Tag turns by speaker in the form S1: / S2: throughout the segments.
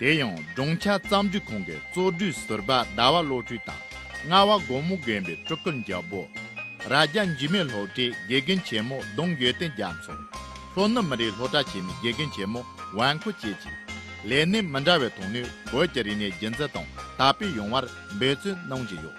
S1: དེ་ཡང་སྦྲང་ཆར་གཙང་འགྲིག་ཁང་གི་གཙོ་སྦྲུལ་ཟུར་པ་ཟླ་བ་བློ་གྲོས་དང་རྔ་བ་སྒོ་མོ་རྒན་པའི་སྤྲུལ་སྐུ་འཇའ་འབོ། རྭ་རྒྱ་འཇིགས་མེད་ལྷོ་བྲེ་དགེ་རྒན་ཆེན་མོ་གདུང་ཡོད་བསྟན་རྒྱ་མཚོ། ལྷོ་ནུབ་མི་རིགས་ལྷོ་བྲག་བྱེ་མའི་དགེ་རྒན་ཆེན་མོ་ཝང་ཁོ་བཅས་ཀྱིས། ལས་གནས་མི་འདྲ་བའི་ཐོག་ནས་བོད་ཀྱི་རིག་གནས་རྒྱུན་འཛིན་དང་དར་སྤེལ་ཡོང་བར་འབད་བརྩོན་གནང་བཞིན་ཡོད།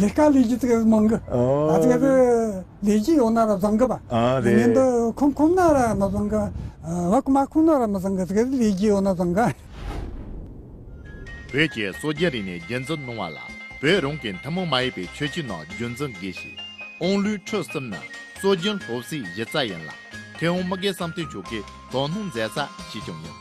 S2: ལས་ཀ་ལས་རྒྱུ་དེ་མང་གི། ཨ་དེ་ག་ལས་རྒྱུ་ཡོད་ན་ར་བཟང་གི་བ། ཉིན་དུ་ཁོམ་ཁོམ་
S3: ན་
S2: ར་མི་བཟང་གི། བ་ཁོ་མ་ཁོམ་ན་ར་མི་བཟང་གི་དེ་ག་ལས་རྒྱུ་ཡོད་ན་བཟང་གི།
S1: བོད་ཀྱི་སོ་རྒྱལ་རིག་ནས་རྒྱལ་མཚོ་སྣང་བ་ལ་བོད་རང་གི་མཐུན་མོང་མ་ཡིན་པའི་ཆོས་ཅི་ནང་རྒྱུ་མཚོ་འགའི་ཞིག་ཨོང་ལུའི་འཕྲོས་གསུམ་ན་སོ་རྒྱུན་ལྷོ་བསིལ་གཞི་རྩ་ཡིན་ལ་མཐེ་བོང་མི་དགའི་བསམ་དོན་ཆོ་གའི་དོ་སྣང་མཛད་ས་ཞིག་ཀྱང་ཡིན།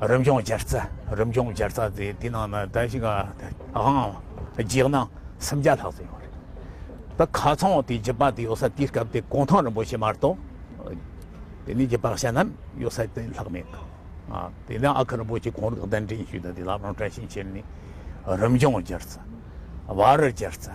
S4: རིམ་བྱུང་སྦྱར་རྩ་རིམ་བྱུང་སྦྱར་རྩ་དེ་དེ་ནང་ན་ད་ཞིག་ཨང་རྒྱས་ན་སུམ་བརྒྱ་ལྷག་ཙམ་ཡོད་རེད་ད་ག་ཚང་དེ་རྒྱུད་པ་དེ་ཡོད་ས་དེའི་སྐབས་དེ་གུང་ཐང་རིན་པོ་ཆེ་མ་གཏོགས་དེ་ནས་རྒྱུད་པ་གཞན་རྣམས་ཡོད་ས་དེ་ལྷག་མེད་དེ་ནས་ཨ་ཁུ་རིན་པོ་ཆེ་གོང་རིག་གདན་འདྲེན་ཞུས་ད་དེ་ལ་རང་བཀྲ་ཤིས་འཁྱིལ་ནས་རིམ་བྱུང་སྦྱར་རྩ་བར་སྦྱར་རྩ།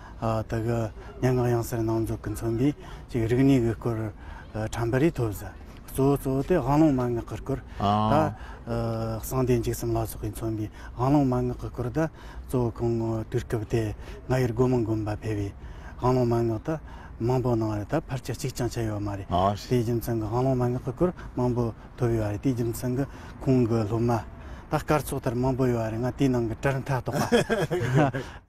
S2: དེ་གི་སྙན་ངག་ཡང་ཟེར་ནང་འཛུགས་ཀྱི་མཚོན་པའི་ཅིག་རིག་གནས་ཀྱི་སྐོར་དྲན་པ་རེ་ཐོབ། གཙོ་བོ་གཙོ་བོ་དེ་དབང་ལུང་མན་ངག་གི་སྐོར་དང། གསང་བདེ་འཇིགས་གསུམ་ལ་སོགས་ཀྱི་མཚོན་པའི་དབང་ལུང་མན་ངག་གི་སྐོར་དང། གཙོ་བོ་གང་དུས་སྐབས་དེ་ང་ཡིར་སྒོ་མོ་མགོན་པ་ཕེབས་པའི་དབང་ལུང་མན་ངག་དག་མང་པོ་གནང་བ་རེད་ད་ཕར་ཆ་གཅིག་ཀྱང་ཆད་ཡོད་མ་རེད། དེའི་རྒྱུ་མཚན་གྱི་དབང་ལུང་མན་ངག་གི་སྐོར་མང་པོ་ཐོབ་ཡོད་རེད་དེའི་རྒྱུ་མཚན་གྱི་ཁོང་གི་སློབ་མ་དག་སྐར་ཚོགས་ལྟར་མང་པོ་ཡོད་རེད་ང་དེའི་ནང་གི་གྲལ་མཐའ་གཏོགས་པ།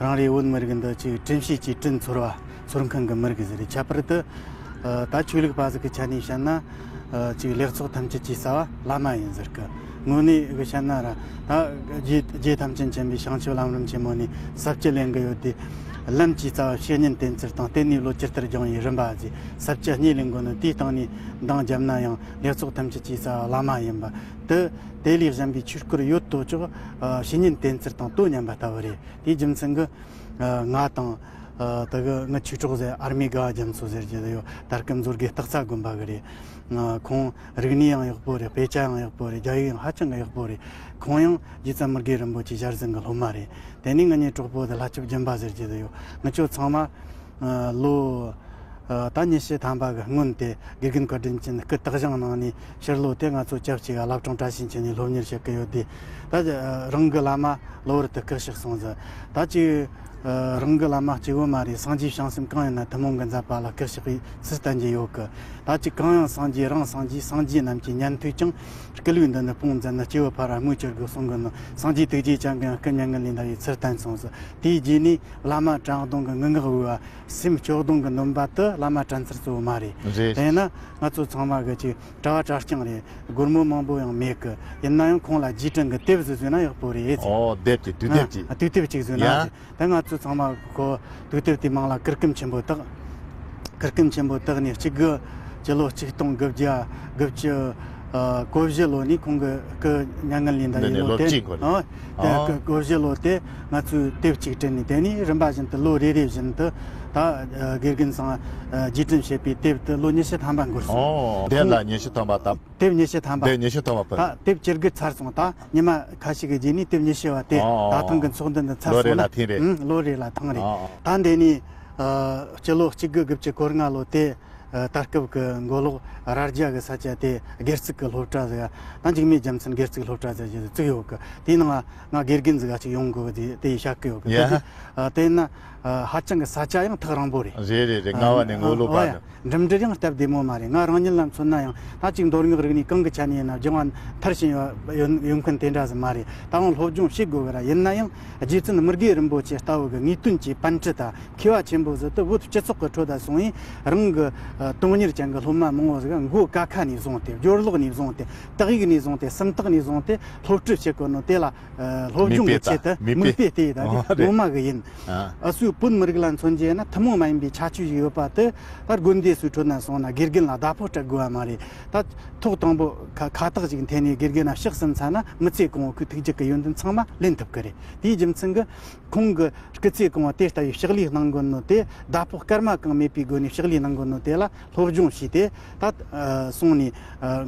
S2: རང་རེའི་བོད་མི་རིགས་འདི་ཆེས་ཁྲིམས་ཞིབ་ཀྱིས་བཀྲིན་ཚོར་བ་ཚོར་མཁན་གྱི་མི་རིགས་ཟེར་ཁྱད་པར་དུ་ད་ཆོས་ལུགས་པ་ཟེར་གྱི་ཆ་ནས་བཤད་ན་ཅིག་ལེགས་ཚོགས་ཐམས་ཅད་ཀྱི་རྩ་བ་བླ་མ་ཡིན་ཟེར་གི་དངོས་གནས་གི་བཤད་ན་ར་ད་རྒྱའི་ཐམས་ཅད་མཁྱེན་པའི་བྱང་ཆུབ་ལམ་རིམ་ཆེན་མོ་ནི་ཟབ་ཀྱི་ལེན་གྱི་ཡོད་དེ། ལམ་གྱི་རྩ་བ་བཤེས་གཉེན་བསྟེན་ཚུལ་དང་བརྟེན་ནས་ལོ་སྤྱིར་དར་སྦྱངས་ཡིན་རིམ་པ་བཞི་ཟབ་ཀྱི་གཉིས་ལས་འགོ་ནི་དེའི་སྟེང་ནས་འདང་བརྒྱབ་ན་ཡང་ལེགས་ཚོགས་ཐམས་ཅད་ཀྱི་རྩ་བ་བླ་མ་ཡིན་པ་དུ་དེ་ལས་གཞན་པའི་ཆོས་སྐུར་ཡོད་དོ་ཅོག་བཤེས་གཉེན་གཏན་ཚིགས་དང་དོན་མཉམ་པ་ལྟ་བུ་རེད་དེའི་རྒྱུ་མཚན་གྱིས། ང་དང། དེ་གི་ངའི་ཆོས་གྲོགས་ཟེར་ཨར་མའི་དགའ་བ་རྒྱ་མཚོ་ཟེར་གྱི་དེ་ཡོད་དར་སྐུ་མཛོད་དགེ་སྟག་ཚ་དགོན་པ་གི་རེད། ཁོང་རིག་གནས་ཡང་ཡག་པོ་རེད་དཔེ་ཆ་ཡང་ཡག་པོ་རེད་རྒྱ་ཡིག་ཡང་ཧ་ཅང་གི་ཡག་པོ་རེད། ཁོང་ཡང་རྗེ་བཙན་མི་དགེ་རིན་པོ་ཆེའི་ཞལ་གཟིགས་གི་སློབ་མ་རེད། དེ་ནས་ངེད་གཉིས་གྲོགས་པོ་དེ་ལྷ་ཆོས་རྒྱན་པ་ཟེར་གྱི་དེ་ཡོད་ངེད་ཆོས་ཚང་མ། ལོ། ད་ཉི་ཤུ་ཐམ་པ་གི་སྔོན་དེ་དགེ་རྒན་བཀའ་དྲིན་ཅན་སྐུ་དག་བཞེངས་གནང་ནས་ཕྱིར་ལོག་དེ་ང་ཚོ་སྐྱབས་གཅིག་ག་ལབ་གྲོང་བཀྲ་ཤིས་འཁྱིལ་ནས་སློབ་གཉེར་བྱེད་ཀི་ཡོད་དེ། ད་ཅི། རང་གི་བླ་མ་གློ་བུར་དུ་སྐུ་ཞིག་སོང་ཟེར། ད་ཅི། རང་གི་བླ་མ་སྐྱེ་བོ་མ་རེད་སངས་རྒྱས་བྱང་སེམས་གང་ཡིན་ན་ཐུན་མོང་གི་མཛད་པ་ལ་སྐུ་ཞིག་གིས་ཚུལ་བསྟན་གྱི་ཡོད་གི། ད་ཅི་གང་ཡང་སངས་རྒྱས་རང་སངས་རྒྱས་སངས་རྒྱས་རྣམས་ཀྱི་ཉན་ཐོས་ཀྱང་སྐུ་ལུས་འདི་ནི་སྤོང་ཟེར་ན་སྐྱེ་བོ་ཕ་ར་དངུལ་ཅི་དགོས་གསུང་གི་ནོ་སངས་རྒྱས་ཐུགས་རྗེ་ཅན་གང་སྐུ་མྱ་ངན་ལས་འདའ་བའི་ཚུལ་བསྟན་སོང་ཟེར། དེའི་རྗེས་ནས་བླ་མ་བྲང་སྡོང་གི་ངུ་འགག་འོས་པ་སེམས་སྐྱོ་སྡོང་གི་སྣུམ་པ་དུ་བླ་མ་བྲན་ཚར་གཙོ་བོ་མ་རེད། དེས་ན་ང་ཚོ་ཚང་མ་གི་ཅིག་གྲྭ་བ་གྲྭ་རྐྱང་རེད་སྒོར་མོ་མང་པོ་ཡང་མེད་གི་ཡིན་ན་ཡང་ཁོང་ལ་རྗེས་དྲན་གི་དེབ་ཟིག་བཟོས་ན་ཡག་པོ་རེད་ཟེར། ཨོ་དེབ་
S3: དེ་དུས་དེབ་ཅིག། དུས་དེབ་ཅིག་བཟོས་ན་ཟེར་
S2: དེ་ང་ཚོ་ཚང་མ་གི་དུས་དེབ་དེའི་མིང་ལ་གུར་ཀུམ་ཆེན་པོ་དག་གུར་ཀུམ་ཆེན་པོ་དག་ནི་གཅིག་དགུ་སྤྱི་ལོ་གཅིག་སྟོང་དགུ་བརྒྱ་དགུ་བཅུ་གོ་བཞི་ལོ་ནི་ཁོང་གི་སྐུ་མྱ་ངན་ལས་འདའ་ཡས་ལོ་དེ། འདི་ནི་ལོ་གཅིག་གོ་རེད། ཨོ་དེ་གོ་བཞི་ལོ་དེ། ང་ཚོས་སྟེགས་གཅིག་བྲིས་ནས་དེ་ནས་རིམ་པ་བཞིན་དུ་ལོ་རེ་རེ་བཞིན་དུ་ད་དགེ་རྒན་ཚང་རྒྱས་འཛིན་བྱེད་པའི་དེབ་དེ་ལོ་ཉི་ཤུ་ཐམ་པ་འགོར་སོང། དེབ་ལ་ཉི་ཤུ་ཐམ་པ་
S3: དབབ། དེབ་ཉི་ཤུ་ཐམ་པ། དེབ་ཉི་
S2: ཤུ་ཐམ་པ་ཕུལ། ད་དེབ་
S3: སྤྱིར་སྒུལ་ཚར་
S2: སོང་ད་ཉི་མ་ཁ་ཞིག་གི་རྗེས་ནས་དེབ་ཉི་ཤུ་བ་དེ་ད་ཐེངས་ཀྱི་ཚོགས་འདུ་འདི་ཚར་སོང་ན། ལོ་རེ་ལ་ཐེངས་རེ། ལོ་རེ་ལ་ཐེངས་རེ། ད་འདས་ནས་སྤྱི་ལོ་གཅིག་དགུ་དགུ་བཅུ་སྐོར་སྔ་ལོ་དེ་ད་སྐབས་ཀྱི་མགོ་ལོག་རྭ་རྒྱ་གྱི་ས་ཆ་དེ་སྒེར་ཚུགས་ཀྱི་སློབ་གྲྭ་ཟེར། ད་འཇིགས་མེད་རྒྱལ་མཚན་སྒེར་ཚུགས་སློབ་གྲྭ་ཟེར་བཞིན་བཙུགས་ཡོད་གི་དེའི་ནང། ང་དགེ་རྒན་ཟིག་ག་ཅིག་ཡོང་དགོས་པ་དེ་ཡིས་ཤག་གི་ཡོད་གི་དེ་ན་ཧ་ཅང་གི་ས་ཆ་ཡང་ཐག་རང་པོ་རེད། རེད་རེད་རེད་རྔ་བ་ནས་
S3: མགོ་ལོག་པ་ནི། འགྲིམ་འགྲུལ་ཡང་སྟབས་བདེ་མོ་
S2: མ་རེད་ང་རང་ཉིད་ལ་མཚོན་ན་ཡང་ད་ཅིག་མདོར་སྔགས་རིག་ནི་གང་གི་ཆ་ནས་ཡིན་ན་སྦྱང་བ་མཐར་ཕྱིན་ཡོད་མཁན་དེ་འདྲ་ཟིག་མ་རེད་ད་དབང་སློབ་སྦྱོང་བྱེད་དགོས་གི་ར་ཡིན་ན་ཡང་རྗེ་བཙུན་དམུ་དགེ་རིན་པོ་ཆེ་ལྟ་བུ་གི་ངེས་དོན་གྱི་པན་ཁྲི་དང་མཁས་བ་ཆེན་པོ་ཟིག་ཏུ་བུད་སྤྱི་ཚོགས་གི་ཁྲོད་དུ་སོང་ཡིན་རང་གི་དོན་གཉེར་ཅན་གི་སློབ་མ་མང་བོ་ཟིག་མགོ་ཀ་ཁ་ནས་བཟུང་སྟེ་སྦྱོར་ཀློག་ནས་བཟུང་སྟེ་དག་ཡིག་ནས་བཟུང་སྟེ་སུམ་རྟགས་ནས་བཟུང་སྟེ་སློབ་ཁྲིད་བྱེད་དགོས་ནོ་དེ་ལ་སློབ་སྦྱོང་གི་ཆེད་དུ་མིག་དཔེ་ལྟས་ཡིན་ད་དེ་ངོ་མ་གི་ཡིན་ཨ་སུའི་བོད་མི་
S5: རིགས་ལ་མཚོན་བྱས་ན་ཐུན་མོང་མ་ཡིན་པའི་ཁྱད་ཆོས་ཤིག་ཡོད་པ་དེ་ལྟར་དགོན་སྡེའི་སུའི་ཁྲོད་ན་སོང་ན་དགེ་རྒན་ལ་བརྡ་ཕོག་སྤྲད་དགོས་པ་མ་རེད་ད། ཐོག་དང་པོ་ཁ་བཏགས་ཅིག་འཐེན་ནས་དགེ་རྒན་ལ་ཕྱག་གསུམ་ཚར་ན་མི་ཚེ་གང་བོ་ཁོས་ཐུགས་རྗེ་གི་ཡོན་ཏན་ཚང་མ་ལེན་ཐུབ་གི་རེད་དེའི་རྒྱུ་མཚན་གི། ཁོང་གི་སྐུ་ཚེ་གང་བོ་དེ་ལྟ་བུའི་ཕྱག་ལས་གནང་དགོས་ནོ་དེ་བརྡ་ཕོག་སྐར་མ་གང་མེད་པའི་སྒོ་ནས་ཕྱག་ལས་གནང་དགོས་ནོ་དེ་ལ། སློབ་སྦྱོང་བྱས་ཏེ། ད་སོང་ནས་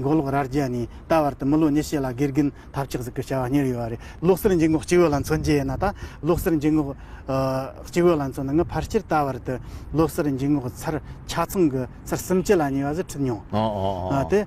S5: མགོ་ལོག་རྭར་རྒྱལ་ནས་ད་བར་དུ་མི་ལོ་ཉི་ཤུ་ལ་དགེ་རྒན་ཐབས་ཆག་ཟིག་གི་བྱ་བ་གཉེར་ཡོད་པ་རེད། བློ་གསལ་འཇུག་ངོགས་སྤྱི་བོས་ལ་མཚོན་རྒྱུ་ཡིན་ན་ད་བློ་གསལ་འཇུག་ངོགས་སྤྱི་བོས་ལ་མཚོན་ན་ངས་ཕར་ཆེར་ད་བར་དུ་བློ་གསལ་འཇུག་ངོགས་ཚར་ཆ་ཚང་གི་ཚར་གསུམ་བཅུ་ལ་ཉེ་བ་ཟིག་ཁྲིད་མྱོང། དེ།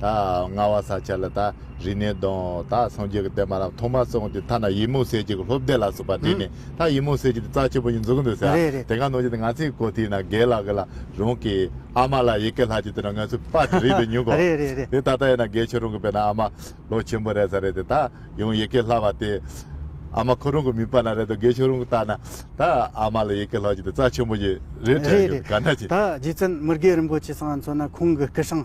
S3: ད་རྔ་བ་ས་ཆ་ལ་ད་རི་ནས་གདོན་ད་སངས་རྒྱས་ཀྱི་བསྟན་པ་རྣམས་ཐོག་མར་སོང་སྟེ་ཐ་ན་ཡི་མུག་སེར་སྐྱ་གི་ལྷོ་བདེ་ལགས་སུ་བ་དེ་ནས་ད་ཡི་མུག་སེར་སྐྱ་དེ་རྩ་ཆེན་པོ་ཉིད་འཛུགས་འདུག་ཟེར་རེད་རེད་དེ་ག་ནོར་ཅིག་དེ་ང་ཚོས་གོ་ཐིག་ན་དགེ་ལགས་ཀྱི་ལ་རོང་གི་ཨ་མ་ལ་ཡི་གེ་ལྷ་ཅིག་དེ་ནས་ང་ཚོས་དཔར་དེ་རིག་པའི་ཉུང་གོ་རེད་རེད་རེད་དེ་ད་ལྟ་ཡིན་ན་དགེ་ཆོས་རོང་གི་བེ་ན་ཨ་མ་ལོ་ཆེན་པོ་རེད་ས་རེད་དེ་ད་ཡང་ཡི་གེ་ལྷ་བ་དེ་ཨ་མ་ཁོ་རང་གི་མིག་པ་ན་རེད་དོ་དགེ་ཆོས་རོང་གི་ལྟར་ན་ད་ཨ་མ་ལ་ཡི་གེ་ལྷ་ཅིག་དེ་རྩ་ཆེན་པོ་ཅིག་རེད་དྲན་རེད་རེད་གྱི་ག་འདྲ་ཅིག། ད་རྗེ་བཙུན་མི་དགེ་
S5: རིན་པོ་ཆེ་སང་ང་ཚོ་ན་ཁོང་གི་སྐུ་ཞིང།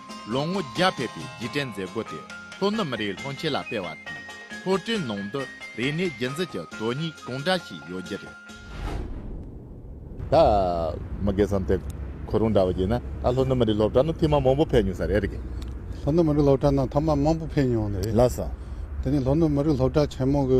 S1: ལོ་ངོ་བརྒྱ་ཕེབས་པའི་རྗེས་དྲན་མཛད་སྒོ་དེ་ལྷོ་ནུབ་མི་རིགས་སློང་ཆེན་ལ་སྤེལ་བ་དང། ལྷོ་སྤྲེལ་ནང་དུ་རིག་གནས་རྒྱུན་འཛིན་གྱི་དོན་སྙིང་གང་འདྲ་ཞིག་ཡོད་རྒྱུ་རེད།
S3: ད་མི་དགེ་བསམ་སྟེ་ཁོ་རང་འདྲ་བ་ཞིག་ན་ད་ལྷོ་ནུབ་མི་རིགས་སློབ་གྲྭ་ནང་ཐེངས་མང་པོ་ཕེབས་མྱོང་ས་རེད་གི། ལྷོ་ནུབ་མི་རིགས་སློབ་
S6: གྲྭ་ནང་ཐ་མ་མང་པོ་ཕེབས་མྱོང་ནི་རེད། ལགས་སོ། དེ་
S3: ནི་ལྷོ་ནུབ་མི་
S6: རིགས་སློབ་གྲྭ་ཆེན་མོ་གི།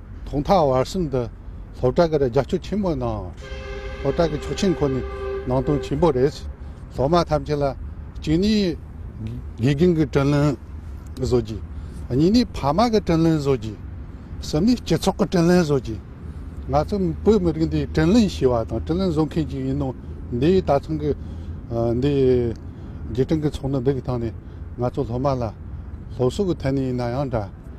S6: ཐོག་མཐའ་བར་གསུམ་དུ་སློབ་གྲྭ་འགར་རྒྱབ་སྐྱོར་ཆེན་པོ་གནང། སློབ་གྲྭ་གི་ཆོག་མཆན་ཁོ་ནས་ནང་དོན་ཆེན་པོ་རེད། སློབ་མ་ཐམས་ཅད་ལ་གཅིག་ནས་དགེ་རྒན་གྱི་དྲིན་ལན་བཟོ་རྒྱུ། གཉིས་ནས་ཕ་མ་གི་དྲིན་ལན་བཟོ་རྒྱུ། གསུམ་ནས་སྤྱི་ཚོགས་ཀྱི་དྲིན་ལན་བཟོ་རྒྱུ། ང་ཚོ་བོད་མི་རིགས་འདི་དྲིན་ལན་ཞུ་བ་དང་དྲིན་ལན་བཟོ་མཁན་ཞིག་ཡིན་ནོ། འདིའི་ད་ཐེངས་ཀྱི་འདི་རྗེས་དྲན་གྱི་ཚོགས་འདུ་འདི་གི་སྟེང་ནས་ང་ཚོ་སློབ་མ་ལ་སློབ་གསོ་གི་ཐད་ནས་ཡིན་ན་ཡང་འདྲ།